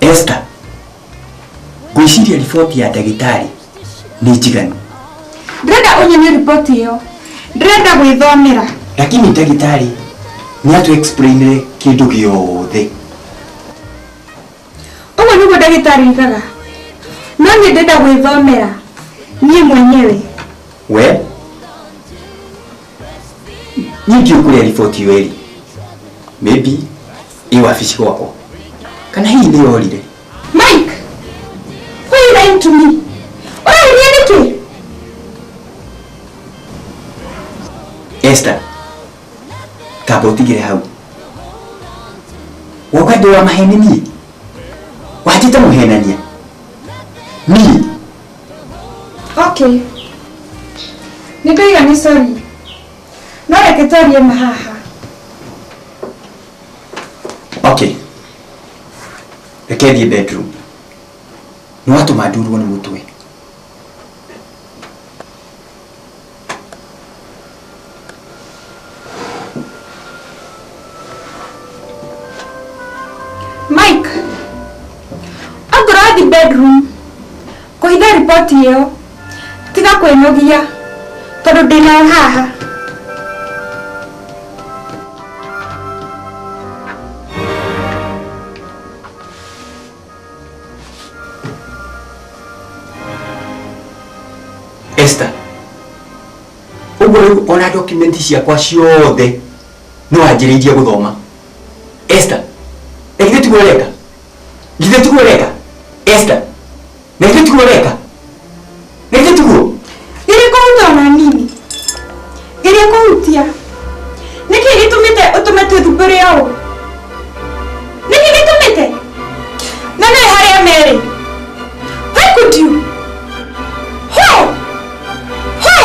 Esther, ngwĩciria riboti ya ndagĩtarĩ nĩ njiganu ndĩrenda ũnyonie riboti ĩyo ndĩrenda gwĩthomera lakini ndagĩtarĩ nĩ atũ explainire kĩndũ gĩothe ũguo nĩguo ndagĩtarĩ igaga no niĩ ndenda gwĩthomera niĩ mwenyewe we niĩ ndiũ kũrĩa riboti ĩyo ĩrĩ maybe ĩ wabici gwakwa kana hihi nĩ yorire mike why you lying to me ũrarĩria nĩkĩ Esther kamba utigire hau woka ndi wa maheni niĩ wanjĩte mũhenania niĩ okay nĩ ndaiga nĩ sori no reke twarie ma haha okay reke thiĩ bedroom nĩ watũma ndurwo nĩ mũtwe Mike, ongorwo wathi bedroom kũhitha riboti ĩyo tiga kwĩnogia tondũ ndĩnayo haha Esther ũguo rĩu ona document ciakwa ciothe no anjĩrĩirie gũthoma Esther na githĩ tiguo ũreka githĩ tiguo ũreka Esther na githĩ tiguo ũreka Nĩkĩtuo. Gĩrĩ kũhuta ona nini. Gĩrĩ kũhutia. Nĩkĩ gĩtũmĩte ũtũme twĩthumbũre ũũ? Nĩkĩ gĩtũmĩte? Na nĩ harĩa merĩ. Why could you? Why? Why?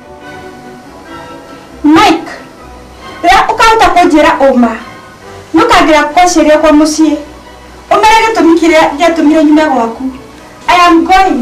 mike rĩrĩa ũkahota kũnjĩra ũma nũkangĩra kwaciaria kwa mũciĩ ũmere gĩtũmi kĩrĩa gĩatũmire nyume gwaku i am going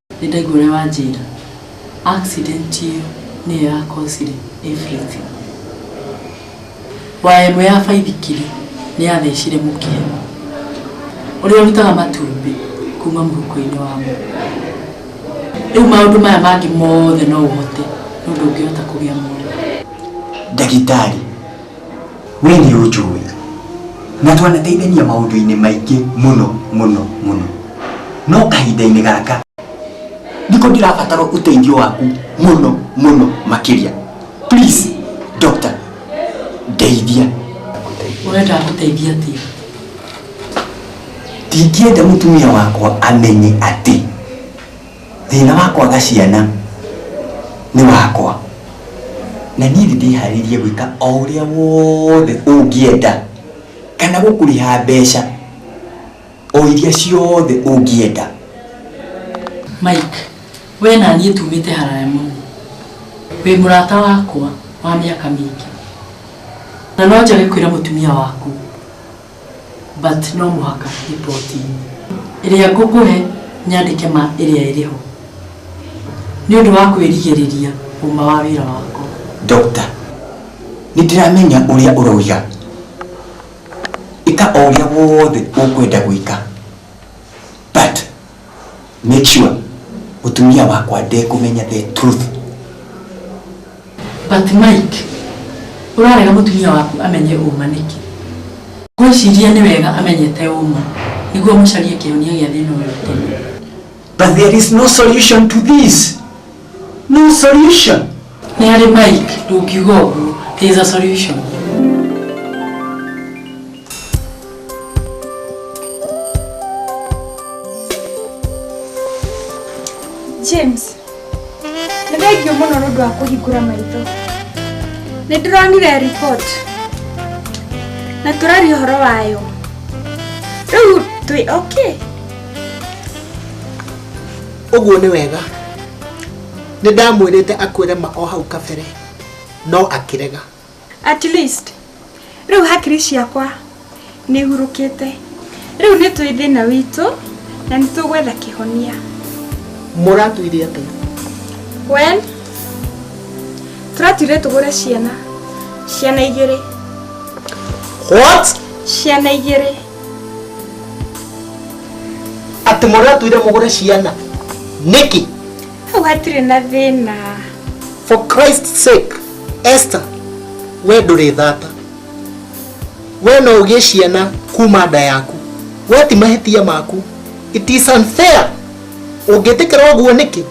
Nĩ ndaigua ũrĩa wanjĩra. Accident ĩyo nĩyo ya cause -ire everything. Waya ĩmwe ya baithikiri nĩ yathecire mũkebe ũrĩa ũrutaga matumbĩ kuma mũhuko-inĩ wa mũndũ. Rĩu maũndũ maya mangĩ mothe no ũhote no ndũngĩhota kũgĩa mwana. Ndagĩtarĩ. we nĩ ũnjũĩ na twanateithania maũndũ-inĩ maingĩ mũno mũno mũno no kahinda-inĩ gaka ndiko ndĩrabatara ũteithio waku mũno mũno makĩria please doctor ndeithia Ũrenda gũteithia atĩa? ndingĩenda mũtumia wakwa amenye atĩ thĩna wa kwaga ciana nĩ wakwa na niĩ nĩ ndĩharĩirie gwĩka o ũrĩa wothe ũngĩenda kana gũkũrĩha mbeca o iria ciothe ũngĩenda mike we na niĩ tumĩte haraya mũno wĩ mũrata wakwa wa mĩaka mĩingĩ na no njage kwĩra mũtumia waku but no mũhaka report inĩ ĩrĩa ngũkũhe nyandĩke ma ĩrĩa ĩrĩ ho nĩ ũndũ wa kwĩrigĩrĩria ũma wa wĩra wakwa. Doctor, nĩ ndĩramenya ũrĩa ũroiga. Ĩka o ũrĩa wothe ũkwenda gwĩka. But. make sure mutumia wakwa ndekũmenya the truth but mike ũrarega mũtumia waku amenye ũma nĩkĩ ngwĩciria nĩ wega amenyete ũma nĩguo mũcarie kĩhonia gĩa thĩna ũyũ tene but there is no solution to this No solution. Nĩ harĩ Mike ndũngiuga ũguo. There is a solution. James, nĩ thengiũ mũno nĩ ũndũ wa kũhingũra maitho. Nĩ ndĩronire report na tũraria ũhoro wayo. Rĩu twĩ okay? ũguo nĩ wega nĩ ndamwĩrĩte akwĩre ma o hau kabere no akĩrega at least rĩu hakiri ciakwa nĩ ihurũkĩte rĩu nĩ twĩ thĩna witũ na nĩ tũgwetha kĩhonia mũratuire atĩa wen tũratuire tũgũre ciana ciana igĩrĩ what ciana igĩrĩ atĩ mũrĩ atwire mũgũre ciana nĩkĩ hau hatirĩ na thĩna for christ sake esther we ndũrĩ thata we no ũgĩe ciana kuma nda yaku we ti mahĩtia maku it is unfair ũngĩtĩkĩra ũguo nĩkĩ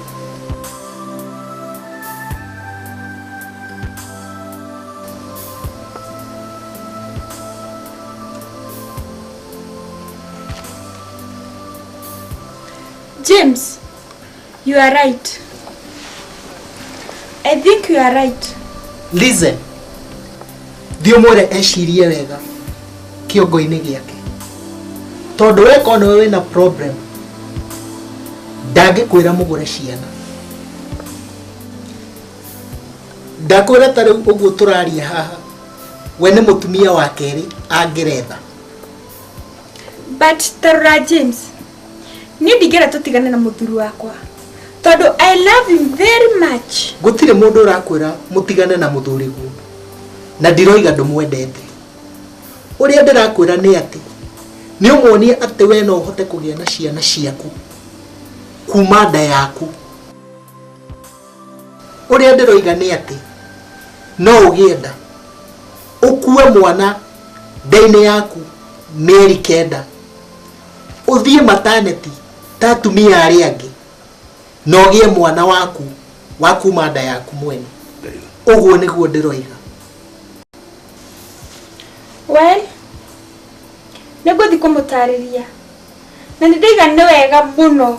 James, you are right. I think you are right. Listen. Thiĩ mwĩre ecirie wega kĩongo-inĩ gĩake. Tondũ we kona we wĩna problem ndangĩkwĩra mũgũre ciana. Ndakwĩra ta rĩu ũguo tũraria haha we nĩ mũtumia wa kerĩ angeretha but tarora james niĩ ndingĩra tũtigane na mũthuri wakwa tondũ i love him very much gũtirĩ mũndũ ũrakwĩra mũtigane na mũthuri guo na ndiroiga ndũmwendete ũrĩa ndĩrakwĩra nĩ atĩ nĩ ũmuonie atĩ we no ũhote kũgĩa na ciana ciaku kuma nda yaku ũrĩa ndĩroiga nĩ atĩ no ũgĩe nda ũkue mwana nda-inĩ yaku mĩeri kenda ũthiĩ mataneti ta atumia arĩa angĩ na ũgĩe mwana waku wa kuma nda yaku mwene ũguo nĩguo ndĩroiga we nĩ ngũthiĩ kũmũtarĩria na nĩ ndaiga nĩ wega mũno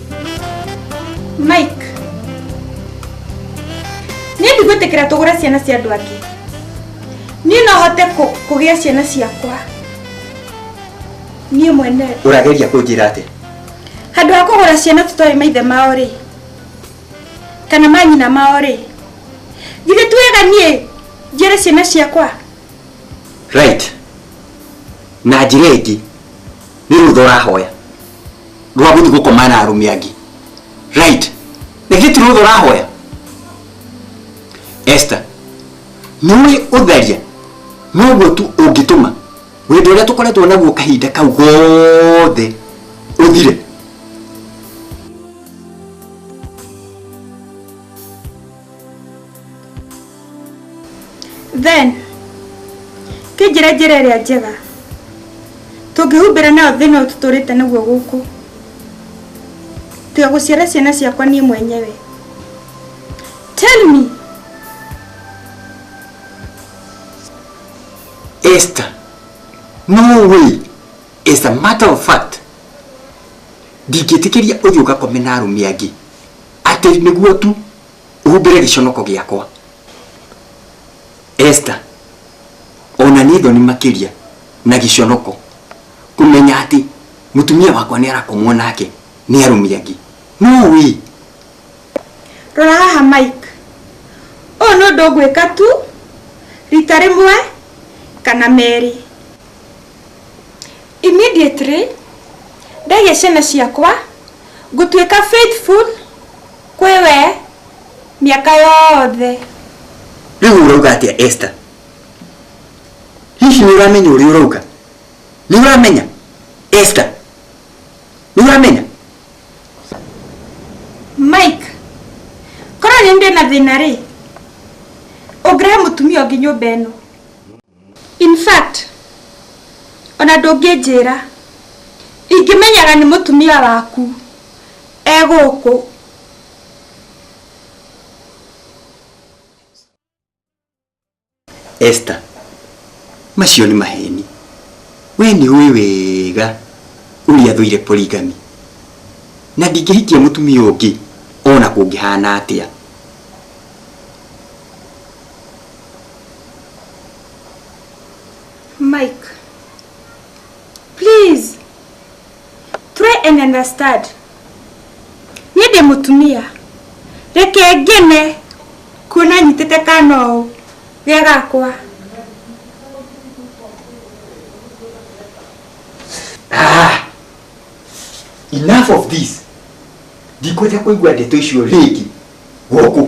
Mike. Nĩ ndigwĩtĩkĩra tũgũre ciana cia andũ angĩ. Niĩ no hote kũ- kũgĩa ciana ciakwa. Niĩ mwene. ũrageria kũnjĩra atĩ Handũ ha kũgũra ciana tũtoĩ maithe mao rĩ. Kana manyina mao rĩ. Githĩ ti wega niĩ njĩre ciana ciakwa. right na njĩra ĩngĩ nĩ rũtha ũrahoya rwa guthi gukoma na arume angi right na githĩ ti rũtha ũrahoya Esther nĩ ũĩ ũtharia noguo tu ũngĩtũma wĩndũ ũrĩa tũkoretwo naguo kahinda kau gothe ũthire then kĩnjĩre njĩra ĩrĩa njega tũngĩhumbĩra nayo thĩna ũyũ tũtũrĩte naguo gũkũ tiga gũciara ciana ciakwa niĩ mwenyewe tell me Esther, no way. As a matter of fact, ndingĩtĩkĩria ũthiĩ ũgakome na arũme angĩ atĩ nĩguo tu uhumbĩre gĩconoko gĩakwa Esther ona nĩ thoni makĩria na gĩconoko kũmenya atĩ mũtumia wakwa nĩ arakomwo nake nĩ arũmi angĩ no wĩ rora haha mike ũyũ nĩ ũndũ ngwĩka tu rita rĩmwe kana merĩ immediately ndaihe ciana ciakwa ngũtuĩka faithful Kwĩ we mĩaka yothe. Rĩu ũrauga atĩa Esther? Hihi nĩ ũramenya ũrĩa ũrauga? Nĩ ũramenya Esther? Nĩ ũramenya? Mike, korwo nĩ ndĩ na thĩna rĩ, ũngĩrehe mũtumia ũngĩ nyũmba ĩno. in fact ona ndũngĩnjĩra ingĩmenyaga nĩ mũtumia waku e gũkũ Esther, macio nĩ maheni. We nĩ ũĩ wega ũrĩa thũire polygamy. Na ndingĩhikia mũtumia ũngĩ ona kũngĩhana atĩa. Mike, please try and understand. Niĩ ndĩ mũtumia. Reke ngene kuona nyitĩte kana ũũ ge gakwa. Ah! Enough of this. Ndikwenda kũigua ndeto icio rĩngĩ. Gũkũ.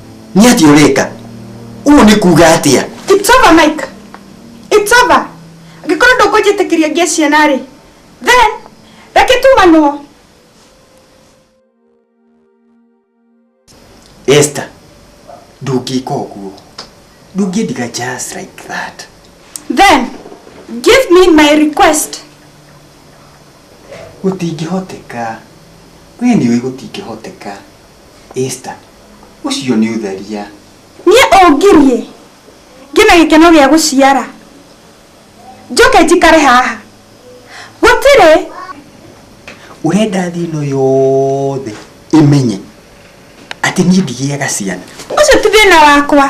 nĩ atĩ ũreka ũũ nĩ kuga atĩa It's over, Mike. It's over. Angĩkorwo ndũkũnjĩtĩkĩria ngĩe ciana rĩ, then reke tumanwo. Esther ndũngĩka ũguo ndũngĩndiga just like that Then give me my request. gũtingĩhoteka we nĩ ũĩ gũtingĩhoteka Esta, ũcio nĩ ũtharia. Niĩ ũngirie, ngĩe na gĩkeno gĩa gũciara, njoke njikare haha? Gũtirĩ. Ũrenda thĩ ĩno yothe ĩmenye atĩ niĩ ndigĩaga ciana? Ũcio ti thĩna wakwa.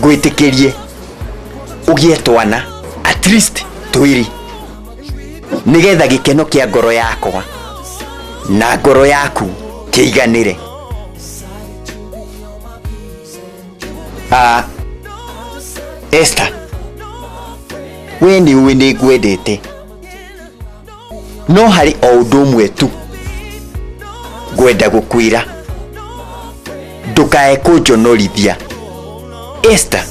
ngwĩtĩkĩrie ũgĩe twana at least twĩrĩ nĩgetha gĩkeno kĩa ngoro yakwa na ngoro yaku kĩiganĩre Ah, Esther we nĩ ũĩ nĩ ngwendete no harĩ o ũndũ ũmwe tu ngwenda gũkwĩra ndũkae kũnjonorithia Esther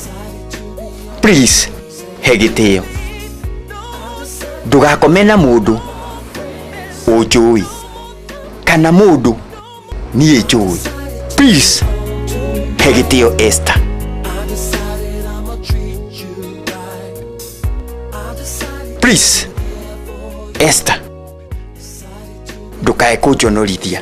please he gĩtĩo ndũgakome na mũndũ ũnjũĩ kana mũndũ Niĩ njũĩ. Peace. Hegitio Esther. Please. Esther. Ndũkae kũnjonorithia.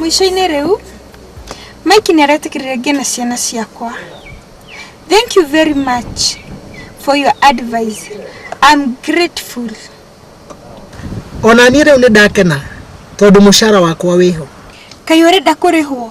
Mwico-inĩ rĩu, Mike nĩ aretĩkĩrire ngĩe na ciana ciakwa. Thank you very much for your advice. I'm grateful. Ona niĩ rĩu nĩ ndakena tondũ mũcara wakwa wĩho. Kaĩ ũrenda kũrĩhwo?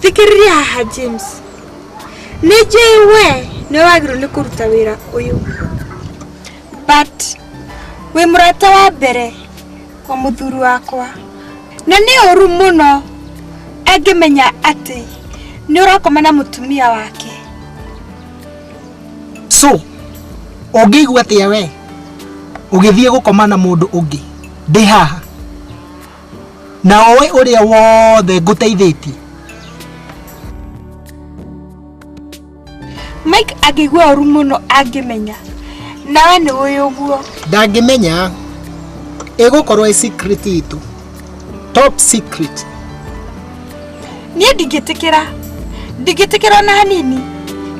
thikĩrĩria haha james nĩ njũĩ we nĩ wagĩrĩirwo nĩ kũruta wĩra ũyũ but wĩ mũrata wa mbere wa mũthuri wakwa na nĩ ũru mũno angĩmenya atĩ nĩ ũrakoma na mũtumia wake so ũngĩigua atĩa we ũgĩthiĩ gũkoma na mũndũ ũngĩ ndĩ haha na oĩ ũrĩa wothe ngũteithĩtie mike angĩigua ũru mũno angĩmenya nawe nĩ ũĩ ũguo ndangĩmenya ĩgũkorwo ĩ secret itũ top secret niĩ ndingĩtĩkĩra ndingĩtĩkĩra na hanini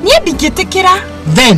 niĩ ndingĩtĩkĩra then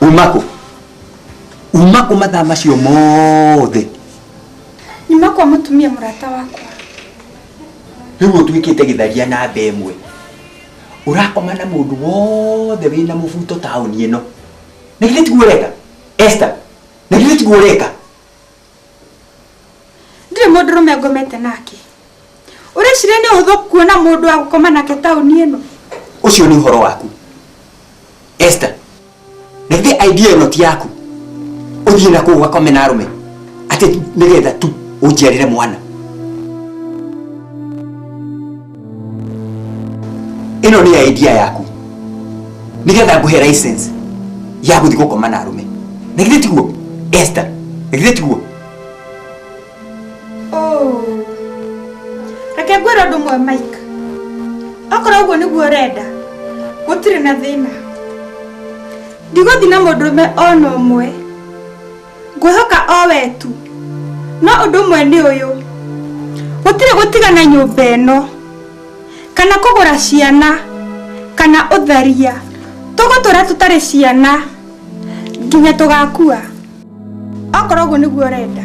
umako umako mathaa macio mothe nyuma kwa mũtumia mũrata wakwa rĩu ũtuĩkĩte gĩtharia na mbe ĩmwe ũrakoma na mũndũ wothe wĩna mũbuto taũni ĩno na githĩ tiguo ũreka esta na githĩ tiguo ũreka ndirĩ mũndũ rũme ngomete nake ũreciria nĩ ũhũthũ kuona mũndũ wa gũkoma nake taũni ĩno ũcio nĩ ũhoro waku Esther na ithe idea ĩno ti yaku ũthiĩ na kũu wakome na arũme atĩ nĩgetha tu ũnjiarĩre mwana ĩno nĩ ya idea yaku nĩgetha ngũhe license ya gũthiĩ gũkoma na arũme na githĩ tiguo Esther na githĩ tiguo reke ngwĩra ũndũ ũmwe mike okorwo ũguo nĩguo ũrenda gũtirĩ na thĩna ndigũthi na mũndũrũme ona ũmwe ngwĩhoka o we tu no ũndũ ũmwe nĩ ũyũ gũtirĩ gũtigana nyũmba ĩno kana kũgũra ciana kana ũtharia tũgũtũra tũtarĩ ciana nginya tũgakua okorwo ũguo nĩguo ũrenda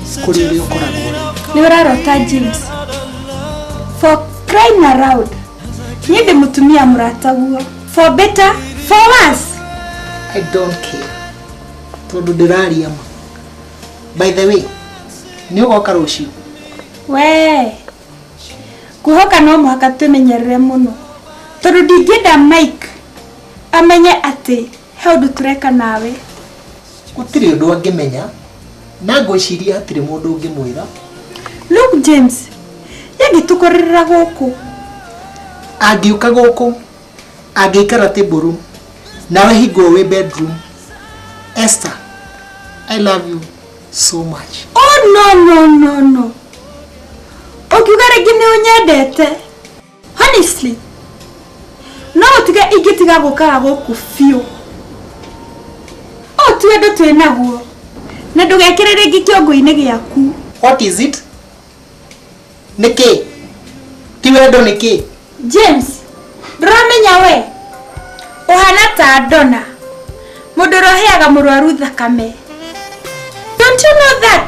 kuri uri ukoragwo niwe urarota james for crying around niye ndimutumia murata guo for better for worse i don't care tondu ndiraria ma by the way ni ugoka rucio we kuhoka no mũhaka twĩmenyerere mũno tondũ ndingĩenda mike amenye atĩ He ũndũ tũreka nawe. Gũtirĩ ũndũ angĩmenya na ngwĩciria hatirĩ mũndũ ũngĩmwĩra. Look James, yangĩtũkorerera gũkũ. Angĩũka gũkũ, angĩikara tĩmbũrũ, nawe hingwo wĩ bedroom. Esther, I love you so much. Oh no no no no. Ũkiuga rĩngĩ nĩ ũnyendete. honestly no ũtige ingĩtiga gũkaga gũkũ biũ ũũ ti wendo twĩ naguo na ndũgekĩre rĩngĩ kĩongo-inĩ gĩaku what is it nĩ kĩ ti wendo nĩ kĩ james ndũramenya we ũhana ta ndona mũndũ ũroheaga mũrwaru thakame don't you know that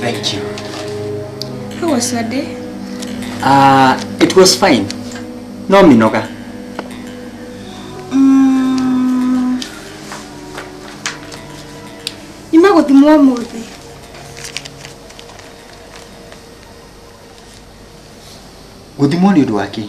Thank you. How was your day? Uh, it was fine. No minoga. Mm. Nyuma gũthimwo ũmũthĩ. Gũthimwo nĩ ũndũ wa kĩĩ?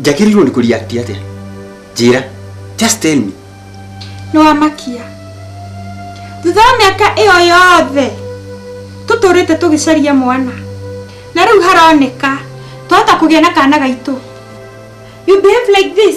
njagĩrĩirwo nĩ kũreact atĩa njĩra just tell me nĩwamakia thutha wa mĩaka ĩyo yothe tũtũrĩte tũgĩcaria mwana na rĩu haroneka twahota kũgĩa na kana gaitũ you behave like this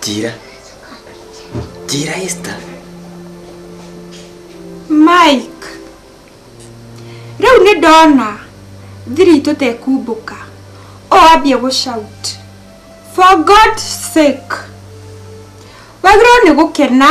njĩra njĩra esta mike rĩu nĩ ndona thiri itũ tekumbũka o ambia gũshout for god sake wagĩrĩirwo nĩ gũkena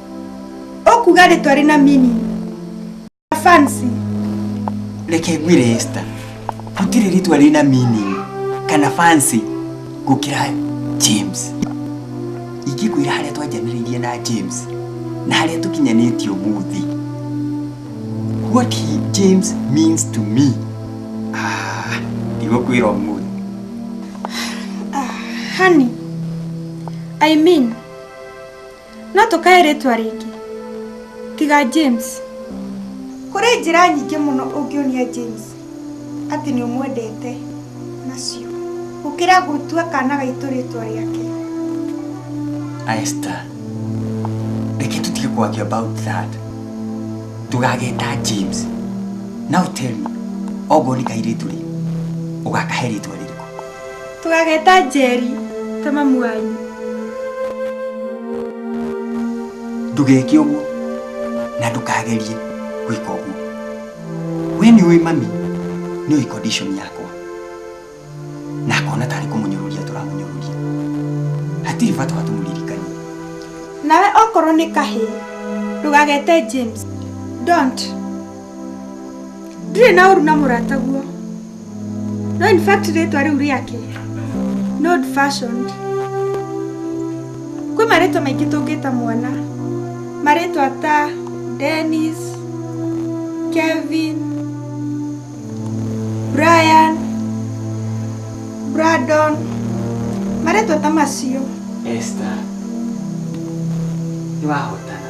Okuga rĩtwa rĩna meaning. Na fancy. Reke ngwĩre Esther. Gũtirĩ rĩtwa rĩna meaning kana fancy gũkĩra James. Ingĩkwĩra harĩa twanjanĩrĩirie na James na harĩa tũkinyanĩtie ũmũthĩ. What he James means to me. Ah, ndigũkwĩra ũmũthĩ. Honey, I mean no tũkae rĩtwa rĩngĩ tiga james kũrĩ njĩra nyingĩ mũno ũngĩonia james atĩ nĩ ũmwendete nacio gũkĩra gũtua kana gaitũ rĩtwa rĩake Esther, reke tũtige kwaria about that tũgageta james now tell me okorwo nĩ kairĩtu rĩ ũgakahe rĩtwa rĩrĩkũ tũgageta njeri ta mamu wanyu ndugeke ũguo na ndũkagerie gwĩka ũguo we nĩ ũĩ mami nĩ ũĩ condition yakwa na akona tarĩ kũmũnyũrũria tũramũnyũrũria hatirĩ bata wa tũmũririkanie nawe okorwo nĩ kahĩ ndũgagete james don't ndirĩ na ũru na mũrataguo no in fact rĩtwa rĩu rĩake no old fashioned kwĩ marĩtwa maingĩ tũngĩta mwana marĩtwa ta denis kevin brian bradon marĩtwa ta macio Esther, nĩ wahotana.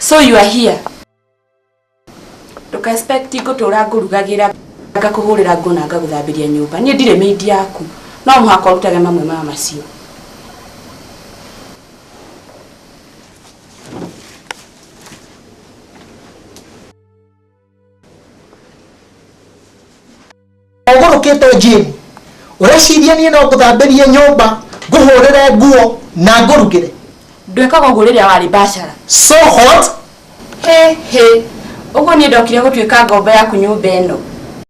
So you are here. Nduka expect ngũtũra ngũrugagira ngakũhũrĩra ngũ na ngagũthambĩria nyũmba. Niĩ ndirĩ maid yaku. No mũhaka ũrutage mamwe ma macio. ũgũrũkĩte njĩni ũreciria niĩ no ngũthambĩrie nyũmba ngũhũrĩre nguo na ngũrugĩre ndwĩkaga ũguo rĩrĩa warĩ bacara so hot hĩ hĩ ũguo niĩ ndokire gũtuĩka ngombo yaku nyũmba ĩno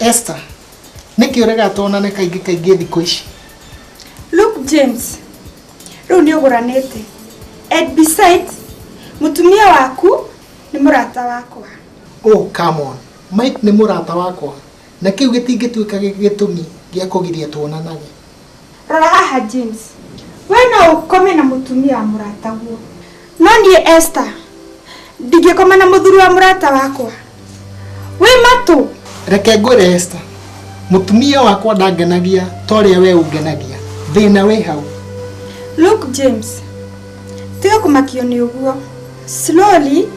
Esther, nĩkĩ ũrega tuonane kaingĩ kaingĩ thikũ ici? Luke James, rĩu nĩ ũgũranĩte. And besides, mũtumia waku nĩ mũrata wakwa. Oh, come on. Mike nĩ mũrata wakwa, na kĩu gĩtingĩtuĩka gĩtũmi gĩa kũgiria tuonanage. Rora haha James, we no ũkome na mũtumia wa mũrataguo, no niĩ Esther ndingĩkoma na mũthuri wa mũrata wakwa. Wĩ matũ. Reke ngwĩre Esther, mũtumia wakwa ndangenagia ta ũrĩa we ũngenagia. Thĩna wĩ hau. Look James, tiga kũmakio nĩ ũguo. Slowly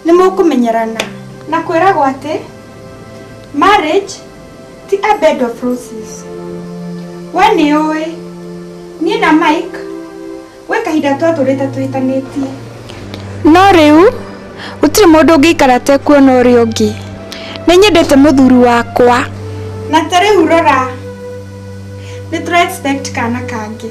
nĩ mũkũmenyerana. Na kwĩragwo atĩ marriage ti a bed of roses we nĩ ũĩ niĩ na mike gwĩ kahinda twatũrĩte twĩtanĩtie no rĩu gũtirĩ mũndũ ũngĩikara tekuona ũrĩa ũngĩ nĩ nyendete mũthuri wakwa na ta rĩu rora nĩ tũra expect kana kangĩ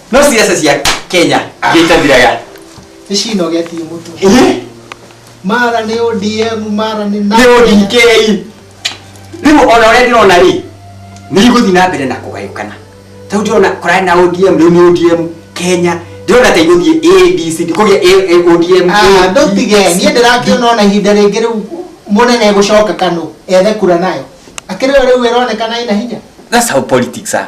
no ciaca cia kenya gĩtathiraga nĩ cinogetie mũtwe Ĩĩ, mara nĩ odm mara nĩ nĩ odk rĩu ona ũrĩa ndĩrona rĩ nĩ igũthiĩ na mbere na kũgayũkana tau ndĩrona kũrarĩ na odm rĩu nĩ odm kenya ndĩrona ta igũthiĩ adc ndikũgĩa A- A- odm Ah, ndũtige niĩ ndĩrakĩona ona ihinda rĩngĩ rĩu mũnene egũcoka kanũ ethe kura nayo akĩrĩ o rĩu ĩronekana ĩna hinya that's how politics are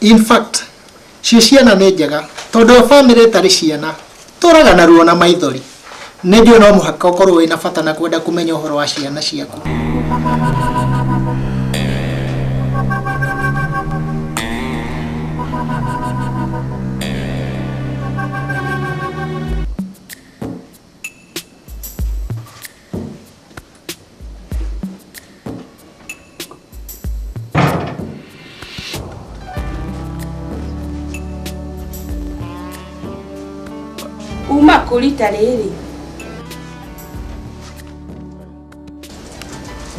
In fact, cio ciana nĩ njega tondũ o family ĩtarĩ ciana tũraga na ruo na maithori. Nĩ njũĩ no mũhaka ũkorwo wĩna bata na kwenda kũmenya ũhoro wa ciana ciaku. Uma kũ rita rĩrĩ?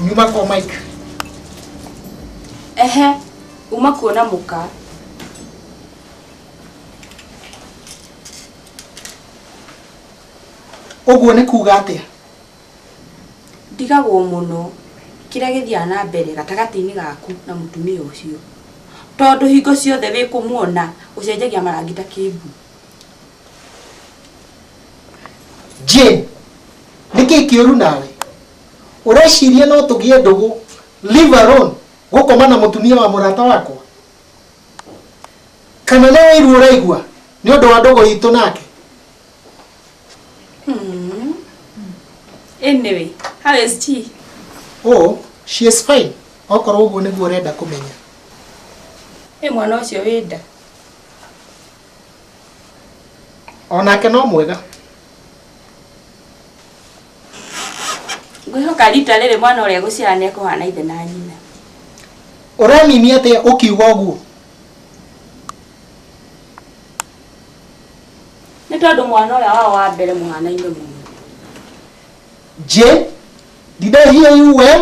Nyuma kwa Mike. Ehe, uma kuona mũka. Ũguo nĩ kuuga atĩa? Ndigagwo mũno kĩrĩa gĩthiaga na mbere gatagatĩ-inĩ gaku na mũtumia ũcio, tondũ hingo ciothe wĩ kũmuona ũcenjagia marangi ta kĩmbu. Jane, nĩ kĩĩ kĩũru nawe? Ũreciria no tũgĩe ndũgũ, live alone, gũkoma na mũtumia wa mũrata wakwa? Kana nĩ ũiru ũraigua nĩ ũndũ wa ndũgũ itũ nake? Hmm. Anyway, how is she? Oh, she is fine. Okorwo ũguo nĩguo ũrenda kũmenya. Ĩ mwana ũcio wĩ nda. Onake no mwega. Ngwĩhoka rita rĩrĩ mwana ũrĩa gũciara nĩ ekũhana ithe na nyina. Ũramimi atĩa ũkiuga ũguo? nĩ tondũ mwana ũrĩa wao wa mbere mũhanaine mũno Je, did I hear you well?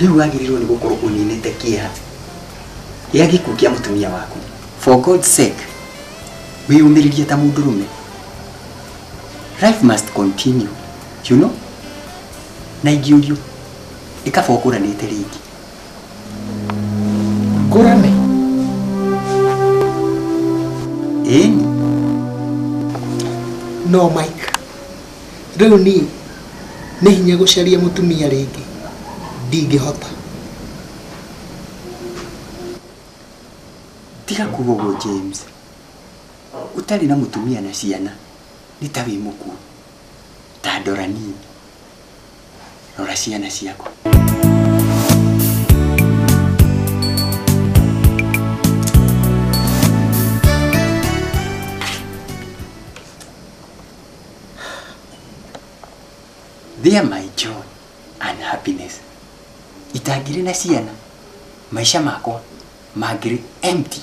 rĩu wagĩrĩirwo nĩ gũkorwo ũninĩte kĩeha gĩa gĩkuũ kĩa mũtumia waku for god sake wĩyũmĩrĩrie ta mũndũrũme life must continue you know na ingĩũrio ĩkaba ũkũranĩte rĩngĩ ngũrane ĩni no mike Rĩu niĩ nĩ hinya gũcaria mũtumia rĩngĩ? Ndingĩhota. Tiga kuuga ũguo James. Ũtarĩ na mũtumia na ciana nĩ ta wĩ mũkuũ. Ta ndora niĩ. Rora ciana ciaku. They are my joy and happiness. Itangĩrĩ na ciana, maica makwa mangĩrĩ empty.